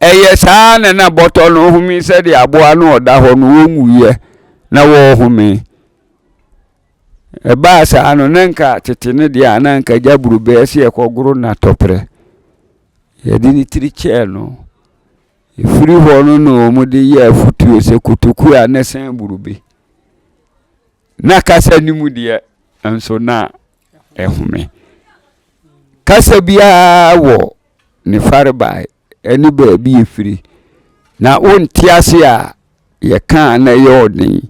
ɛyɛ saa na na bɔtɔ no home sɛdeɛ aboa no ɔda hɔ no wɔnwuiɛ na wɔrehome Ɛbaa saa no, na nka tete no deɛ a na nka gya burobɛɛ sɛ yɛkɔgoro no atɔprɛ. Yɛde ne tiri kyɛɛ no. Ɛfiri hɔ no na wɔde yɛ afutuo sɛ kotokuo a na sɛn burube. Na kasa no mu deɛ nso na ɛhome. Kasa biara wɔ ne farebae ne baabi a ɛfiri. Na wonte ase a, yɛka a na ɛyɛ ɔden.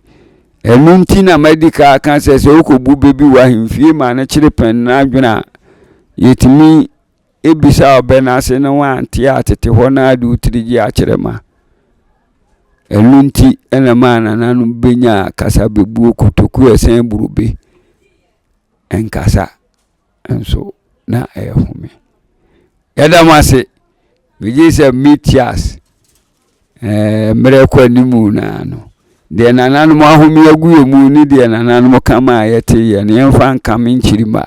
Ɛno nti na madi ka aka sɛ sɛ wokɔbu bɛ bi wɔ ahemfie ma no kyere pɛn no adwene a, yɛtumi bisa ɔbɛ no ase na wante a tete hɔ no ara de wo tiri gye akyerɛ ma. Ɛno nti na maa nananom bɛnya kasa bɛbuo kotokuo ɛsɛn burobe nkasa. nso na ɛyɛ home. Yɛda mo ase. Megye sɛ meti ase. Ɛɛ mmerɛ kɔ anim naa no. Deɛ nananom ahome agu yɛ mu ne deɛ nananom ka ma a yɛte yɛ no yɛmfa nkame nkyiri mma.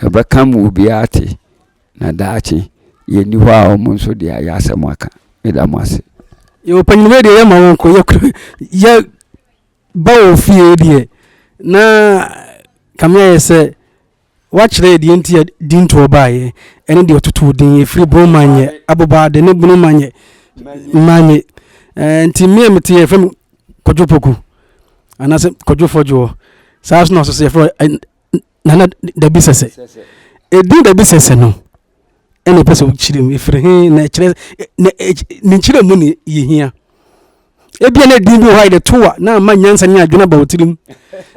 Yɛbɛka ma obiara te. Na daakye yɛnni hɔ a wɔn nso deɛ ayɛ asɛm aka. Meda mo ase. Yɛwɔ panyin wei deɛ yɛ ma wɔn kɔ yɛ yɛ. Ba wɔ fie deɛ na Kame ayɛ sɛ wakyerɛ yɛ deɛ nti a Dintoɔ baeɛ ɛne deɛ ɔtotoo din ɛfiri Bro Manyɛ, Abobade ne Bunu Manyɛ, Manye. Eh, nti me a mete yɛ fam Kwadwo Poku anaasɛ Kwadwo Fɔdwoɔ. Saa so na ɔso so yɛfrɛ eh, Nana Dabi Sɛsɛ. Ɛdin Dabi Sɛsɛ no ɛna ɛpɛ sɛ wokyerɛ mu ɛfiri he na ɛkyerɛ na ne nkyerɛ mu ne yɛhia ebia na ɛdin bi wɔ hɔ a yɛde to a na ama nyansa ne adwene aba wo tirim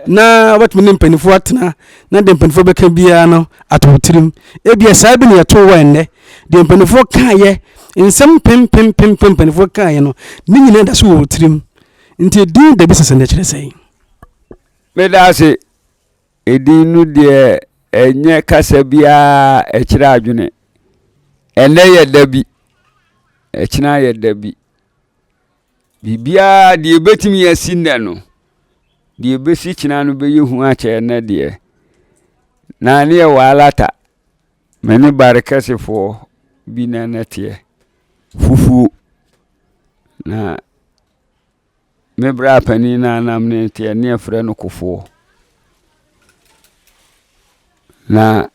na wobɛtumi ne mpanimfoɔ atena na deɛ mpanimfoɔ bɛka biara no ato wo tirim ebia saa bi ne yɛto wɔ ɛnnɛ deɛ mpanimfoɔ kaeɛ nsɛm pempempempem mpanimfoɔ kaeɛ no ne nyinaa da so wɔ wo tirim nti ɛdin da bi sɛ sɛ na ɛkyerɛ sɛn meda ase Edin no deɛ ɛnyɛ kasa biara ɛkyerɛ adwene. Ɛnnɛ yɛ da bi, ɛkyena yɛ da bi. Biribiara deɛ ɛbɛtumi asi nnɛ no, deɛ ɛbɛsi kyena no bɛyɛ hu akyɛ ɛnnɛ deɛ. Na ne yɛ waalata, me ne Barikɛsefoɔ bi na na teɛ, fufuo. Na. Me bra panin no anam ne teɛ ne ɛfrɛ no kofoɔ na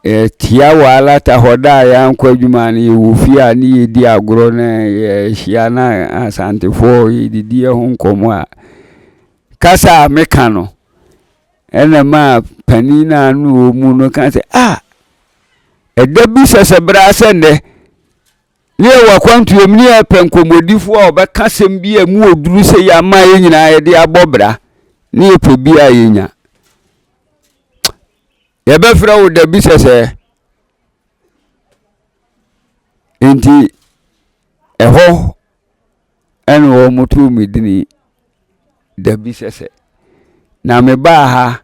yɛtia wɔ alata hɔ da a yɛankɔ adwuma no yɛwɔ fie a ne yɛdi agorɔ na yɛhyia na asantefoɔ yɛdidi ho nkɔmmɔ a kasa a meka no ɛna maa panin no a ne ɔmu no ka sɛ a ah, ɛda bi sɛsɛ bra sɛ nnɛ Ne yɛwɔ akwantuo mu ne yɛpɛ nkɔmmɔdifoɔ a wɔbɛka asɛm bi a mu ɔduru sɛ yɛ ama yɛ nyinaa yɛde abɔ bra ne yɛpɛ bi a yɛnya yɛbɛfrɛ wo da bi sɛsɛɛ nti ɛhɔ Ɛna wɔtoo me dini Dabi Sɛsɛ. Na mebaa ha,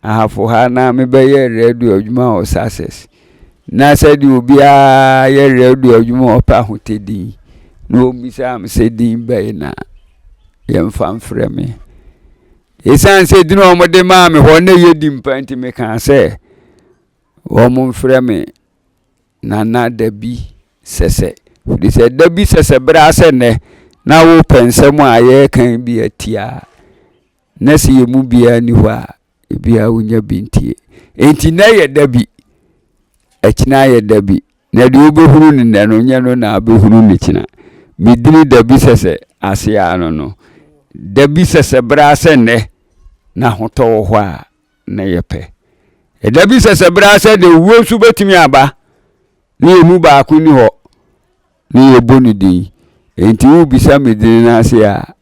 ahafo ha, na mebɛyɛ radio adwuma wɔ Sussex. Na sɛdeɛ obiara yɛ radio adwuma ɔpɛ ahotɛ din. Na wɔbisaa me sɛ din bɛyɛ na yɛmfa mfrɛ me. Ɛsiane sɛ din a wɔde maa me hɔ na ɛyɛ din pa nti mekaa sɛ wɔmfrɛ me Na na da bi sɛsɛ, ɛfiri sɛ da bi sɛsɛ berɛ ara sɛ nnɛ, na wopɛ nsɛm a yɛreka yi bi atie a, na sɛ yɛn mu biara nni hɔ a, ebiara wonya bi ntie. Enti nnɛ yɛ da bi, ɛkyena ayɛ da bi, na deɛ wobɛhunu no nnɛ no, nyɛ no na wobɛhunu no kyena. Me dini da bi sɛsɛ ase ara no no, da bi sɛsɛ berɛ ara sɛ nnɛ, na ahotɔ wɔ hɔ a na ɛyɛ pɛ. Ɛda bi sɛ sɛ bere sɛ na owuo nso bɛtumi aba ne yɛn mu baako ni hɔ ne yɛbɔ ne din. Enti wobisa me din no ase a,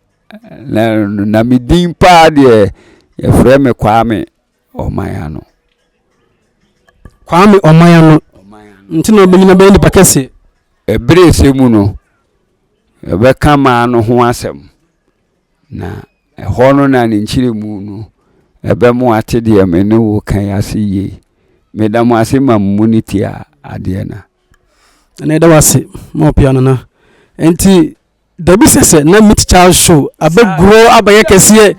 na, na me din paa deɛ yɛfrɛ me Kwame Ɔman Ano. Kwame Ɔman Ano nti na ɔbɛnyina bɛyɛ nipa kɛseɛ. Ɛbere sɛ mu no, yɛbɛka maa no ho asɛm. Na ɛhɔ no na ne nkyerɛmu no ɛbɛmo ate deɛ me ne wo ka yi ase yie. Meda mo ase ma mo mu no tie adeɛ na. Na yɛda wo ase ma ɔpea no na. Nti dabi sɛ sɛ na Meet Child Show abɛguro abɛyɛ kɛseɛ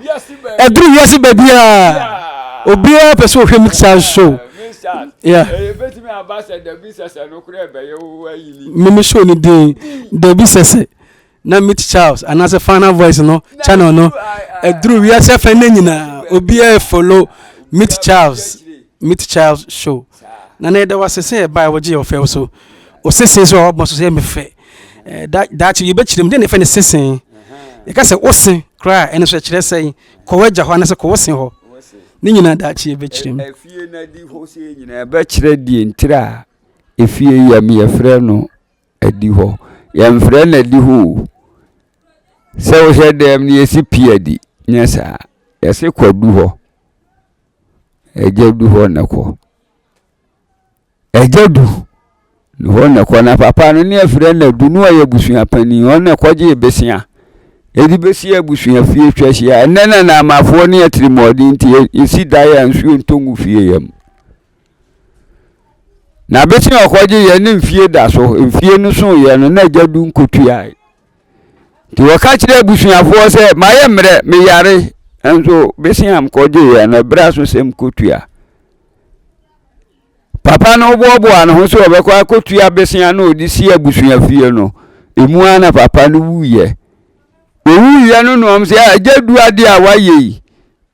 ɛduru wiase baabiara obiara pɛ sɛ ɔhwɛ Meet Child Show. Yeah. Meme show no din dabi sɛ sɛ. Na Meet Charles anaasɛ Final Voice no channel no aduru wiase afɛ nnɛ nyinaa. Obiara follow Meet Charles, Meet Charles Show. Na na yɛda wo ase sɛ ɛbae wogye yɛ ɔfɛw so. O sesee so a wɔbɔ so so yɛ me fɛ. Eh, da, daakye yɛbɛkyerɛ mu, dɛn na ɛfɛ ne sesee? Yɛka sɛ wo se koraa a, ɛno so ɛkyerɛ sɛn? Kɔ w'agya hɔ anaasɛ kɔ wo se hɔ. Ne nyinaa daakye yɛbɛkyerɛ mu. Afie no adi hɔ sɛ nyinaa ɛbɛkyerɛ deɛ ntira a efie yɛ me yɛfrɛ no Adihɔ. Yɛmfrɛ no adihɔ o. Sɛ wohyɛ dan mu no yɛsi pii adi, nyɛ saa. Yɛse kɔ aduhɔ. Agya du hɔ na kɔ. Agya du ne hɔ na kɔ. Na papa no ne afrɛ no adu no ɔyɛ abusua panin. Ɔno na kɔgye besia. Yɛde besi abusua fie twa hyia. Ɛnɛ na namafoɔ ne atirimuɔden nti yɛsi dan a nsuo ntɔ ngu fie yam. N'abese a ɔkɔgye yɛ ne mfie da so mfie no so yɛ no na agya du nkotuae nti wɔka kyerɛ abusuafoɔ sɛ mayɛ mmerɛ meyare nso bese a mkɔgye yɛ no ɛbrɛ so sɛ mkotua papa no boaboa ne ho sɛ ɔbɛkɔ akɔtua besea na ɔde si abusua fie no ɛmu ara na papa no wuyɛ owuyɛ no noɔm sɛ agya du adeɛ a wayɛ yi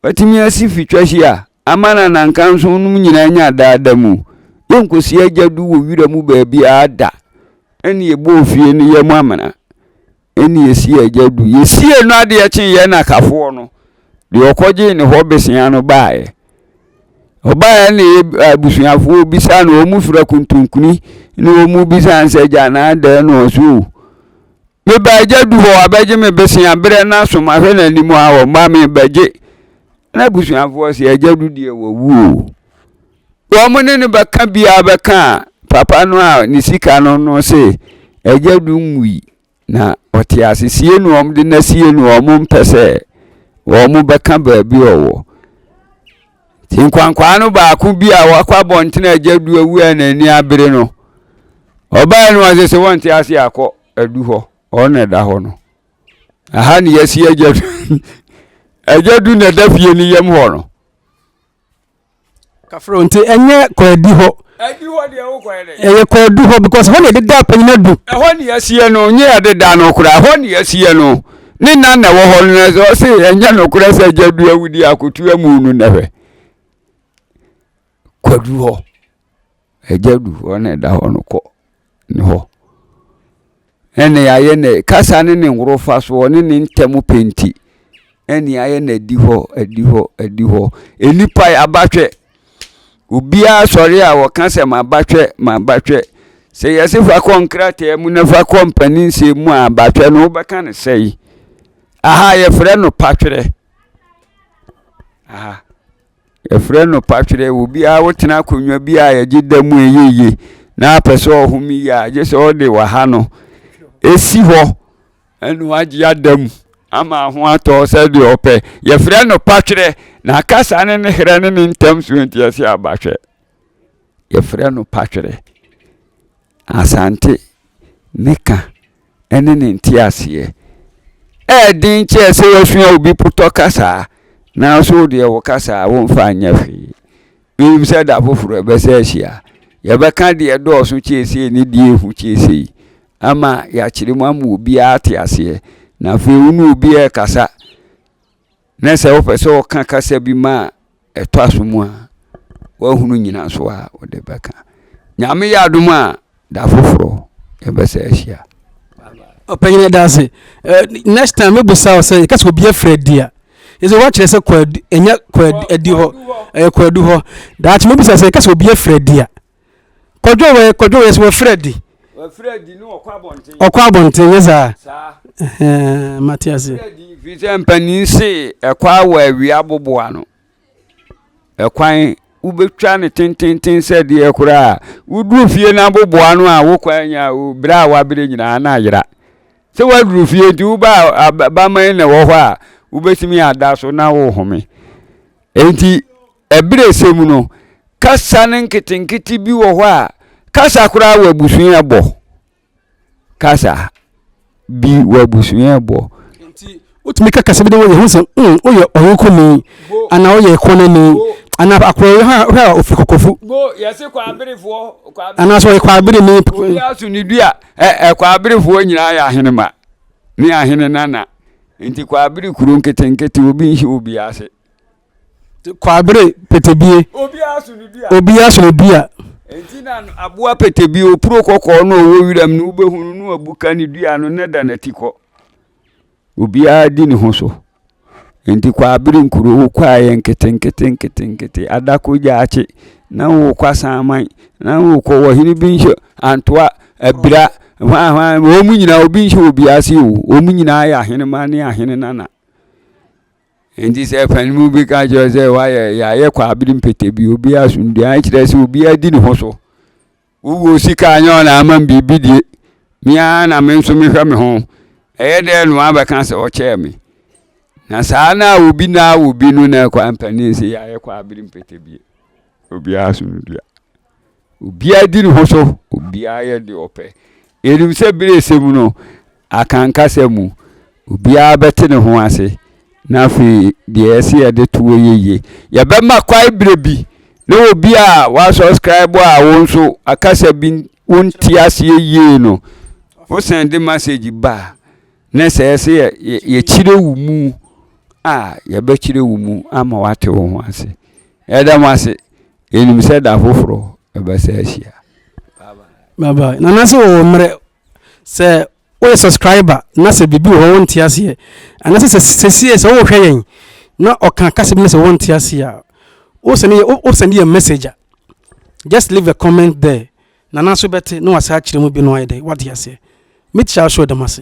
watumi asi fitwa si a Ama na nankanso nom nyinaa nya daa da mu. Yɛnkɔsi agya du wɔ wira mu baabiara da. Ɛnna yɛbɔɔ fie no yam amena. Ɛnna yɛsii agya du. Yɛsiee no adeɛ kyee yɛn nakafoɔ no, deɛ ɔkɔgyee ne hɔ bosea no baeɛ. Ɔbaeɛ na yɛ abusuafoɔ bisaa no, wɔn fira kuntunkuni na wɔn bisaa no sɛ, agya na adɛn na ɔso o? Meba agya du hɔ, wabɛgye me bosea berɛ na som ahwɛ n'anim a wɔmma mebɛgye N'abusuafoɔ se, Agya no deɛ wawu o. Wɔn ne no bɛka biara bɛka a, papa no a ne sika no no se, Agya no nwui, na ɔte ase. Sie no wɔn de no asie no, wɔn mpɛ sɛ wɔn bɛka baabi a ɔwɔ. Nti nkwankwaa no baako bi a wakɔ abɔntene agya du awu a n'ani abere no, ɔbaeɛ no ɔse sɛ wɔnte ase akɔ adu hɔ, ɔno na ɛda hɔ no. Aha ne yɛasi agya du agya du na ɛda fie no yam hɔ no kafro nti ɛnyɛ kwaadi hɔ adi hɔ deɛ wo kwan dɛ ɛyɛ kwaadu hɔ because hɔ na yɛde da panyin adu ɛhɔ ne yɛasiɛ no nyɛ yɛde da no koraa ɛhɔ ne yɛasiɛ no ne nan na ɛwɔ hɔ no na sɛ ɔse ɛnyɛ nokorɛ sɛ agya du awudi akotu amu no na hwɛ kwadu hɔ Agya du hɔ na ɛda hɔ no kɔ ne hɔ. Ɛne ayɛ na kasa ne ne nworofa so ɔne ne ntɛm pɛ nti ɛne ayɛ na adi hɔ adi hɔ adi hɔ nnipa yɛ abatwɛ obiara sɔre a wɔka sɛ ma abatwɛ ma abatwɛ sɛ yɛsi fa kɔ nkrataa mu na fa kɔ mpanin nsɛm mu a abatwɛ no wobɛka ne sɛyi aha yɛfrɛ no patwerɛ aha. Yɛfrɛ no patwerɛ. Obiara wotena akonnwa bi a yɛgye da mu ɛyɛ yie na apɛ sɛ ɔhome yie a, gye sɛ wode waha no ɛsi hɔ ɛna wagye ada mu ama ho atɔ sɛ deɛ ɔpɛ. Yɛfrɛ no patwerɛ. Na kasa ne ne herɛ ne ne ntam so nti ɛsɛ aba hwɛ. Yɛfrɛ no patwerɛ. Asante ne ka. ne ne nteaseɛ. Ɛyɛ den kyɛɛ sɛ wasua obi potɔ kasa nanso wo deɛ wo kasa a womfa nyɛ hwee. Menim sɛ da foforɔ ɛbɛsɛ ahyia. Yɛbɛka deɛ dɔɔso kyɛɛ sei ne deɛ ehu kyɛɛ sei ama yɛakyerɛ mu ama obiara ate aseɛ. Na afei wo ne obi ɛrekasa. Na sɛ wopɛ sɛ ɔka kasa bi ma a ɛtɔ aso mu a, woahunu nyina so a wode bɛka. Nyame yɛ adom a, da foforɔ yɛbɛsɛ ahyia. Ɔpanyin ɛda ase. Next time me busa wo sɛ yɛka sɛ obi afiri adi a, yɛsɛ woakyerɛ sɛ kɔ adi, ɛnyɛ kɔ adi hɔ, ɛyɛ kɔ adu hɔ. Daakye me busa sɛ yɛka sɛ obi afiri adi a. kɔdwo wɛ kɔdwo wɛ sɛ wɔfiri adi wɔfiri adi ne wɔkɔ abɔnten wɔkɔ abɔnten nyɛ saa saa ɛɛ mate ase wɔfiri adi firi sɛ mpanin se ɛkɔ awɔ awia aboboa no ɛkwan wobɛtwa ne tententen sɛ deɛ koraa woduru fie no aboboa no a wokwan nya o berɛ a waberɛ nyinaa na ayera sɛ woaduru fie nti woba baman na ɛwɔ hɔ a wobɛtumi ada so na wohome enti Abirɛsɛ mu no, kasa no nketenkete bi wɔ hɔ a kasa koraa wɔ abusua bɔ. Kasa bi wɔ abusua bɔ. Nti, wotumi ka kasa bi de wɔ yɛ ho sɛ, mm, woyɛ ɔyokoni, anaa woyɛ kɔnani, anaa akora yi hɔ a ofiri kɔkɔfu. Bo, yɛse kwaberefoɔ, kwaberefoɔ. Anaa sɛ ɔyɛ kwabereni. Obi aso ne du a, ɛ, ɛ, kwaberefoɔ nyinaa yɛ ahenema ne ahene nana. Nti kwabere kuro nketenkete, obi nhyɛ obi ase. Kwabere petebie, obiara so no dua. Enti na aboa petebie, opuro kɔkɔɔ no ɔwɔ wiram no, wobɛhu no no abu ka ne dua no na da n'ati kɔ. Obiara di ne ho so. Enti kwabere nkuro wo kɔ a yɛ nkete nkete nkete nkete adako gyaakye na wo kɔ asanman na wo kɔ wɔ hene bi nhyɛ antoa abira hwan hwan wɔn nyinaa obi nhyɛ obiara se o wɔn nyinaa yɛ ahenema ne ahene nana. Enti sɛ ɛfa no mu bi ka kyerɛ sɛ wayɛ yɛayɛ kɔ abere mpete bi obi asomdua kyerɛ sɛ obi adi ne ho so wowɔ sika anyɛ ɔna ama biribi die mea na me nso mehwɛ me ho ɛyɛ dɛ no abɛka sɛ ɔkyɛɛ me na saa na obi na obi no na ɛkɔ ampanin sɛ yɛayɛ kɔ abere mpete bi obi asomdua Obiara di ne ho so, obiara yɛ deɛ ɔpɛ. Yɛnim sɛ berɛ a ɛsɛ mu no, akankasa mu, obiara bɛte ne ho ase, na afei deɛ ɛsɛ yɛde to hɔ yɛ yie. Yɛbɛma kwan berɛ bi na obi a woasubscribe a wo nso akasa bi wonte aseɛ yie no, wo sɛnde message ba a, ne sɛ ɛsɛ yɛkyerɛ wo mu a, yɛbɛkyerɛ wo mu ama woate wo ho ase. Yɛda mo ase. Yɛnim sɛ da foforɔ ɛbɛsa ahyia. Bye bye. Nana sɛ wɔwɔ mmerɛ sɛ woyɛ subscriber na sɛ biribi wɔ hɔ wonte aseɛ anasɛ sɛ sɛsie sɛ wohwɛ yɛn na ɔka kasa bi na sɛ wonte aseɛ a wosɛne yɛ wosɛne yɛ message a just leave a comment there Nana so bɛte na wasa akyerɛ mu bi na wayɛ dɛ wate aseɛ. Metia wo show dam ase.